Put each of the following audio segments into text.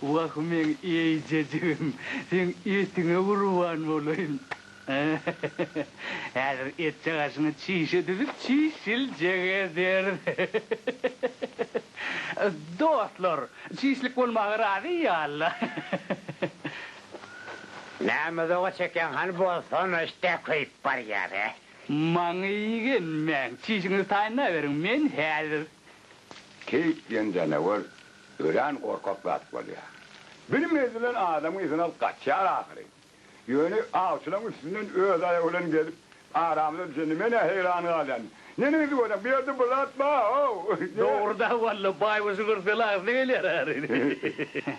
Wah meň eýjejigim, seň etiňe gurban bolaýyn. Häzir etjek aşyňy çişe düzüp çişiljek ederis. Dostlar, çişlik bolmaga razy ýaly-la. Näme zoga çekýäň hany bolsana, işdä köýüp barýar-a. Maňa igenmäň, çişiňizi taýynlaberiň, men häzir Keýik diýen janawar örän gorkak zat bolýar. Bilmez bilen adamyň yzyny alyp gaçýar ahyry. Ýöne awçylaryň üstünden öz aýagy bilen gelip, aramyza düşende men-ä heýran galýan. Neniň yzy bolýar, bu ýerde bir zat bar-ow! Dogry-da, walla, baýbaşy görseň agzyna gelýär ahyry.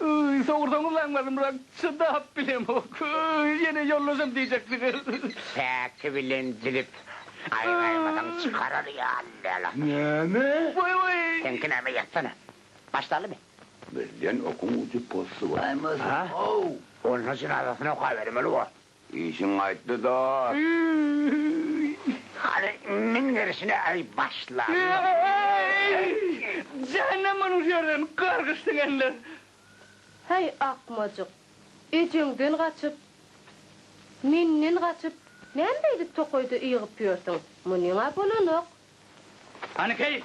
Öý, sorsaňyz aňladymrak, çydap bilemok. Öý, ýene ýollaşam diýjek degel. Päki bilen jigit aýgaýmasaň çykarar ýaly däl. Näme? Wai, wai. Seňki näme, ýatsana. Başlalymy? Bizden okuň ucupostsuwaýmasyn, how! Onda jynazasyny okabermeli bor. Işiň gaýtdy dost. Öýi hany men gerşine äý başlanma. Öýi jähennemden ur ýerden gargyş siňenler. Häý akmajyk ejeňden gaçyp menden gaçyp näme beýdip tokaýda ýygyp ýörsüň munyňa bolanok Hany keýik?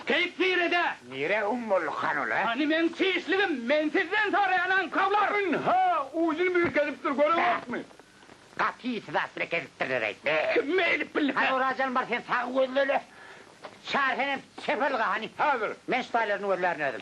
Keýik nirede? Nire um bolduk hanula? Hany meň çişligim? Men sizden soraýan aňkawlar! Ynha, uýjyny biri kezipdir, göreňokmy? Gaty syzatly kezipdirler eý. Kim eýdip bildi? Hany Oraz janbar sen sagy gözleli. Çary senem çeper yga hany. Häzir. Men şu taýlaryny gözlärin özüm.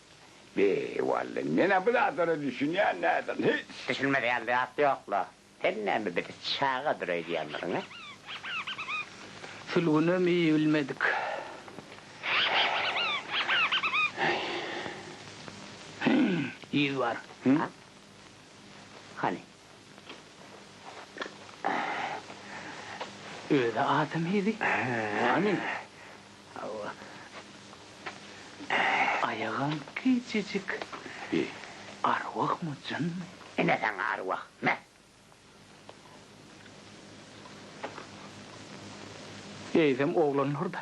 Be, wally, men-ä bu zatlara düşünýän däldim, hiç. Düşünmez ýaly zat ýok-la. Sen näme bizi çagadyr öýdýändirin, hä? Sülgünem iý bilmedik. Hýý, yz bar. Hany? Özi adam hili. Hany. Hawa. Aýagam kiçijik. Bi. Arwahmy, jynmy? Ine saňa arwah. Me. Eýsem oglanlar-da.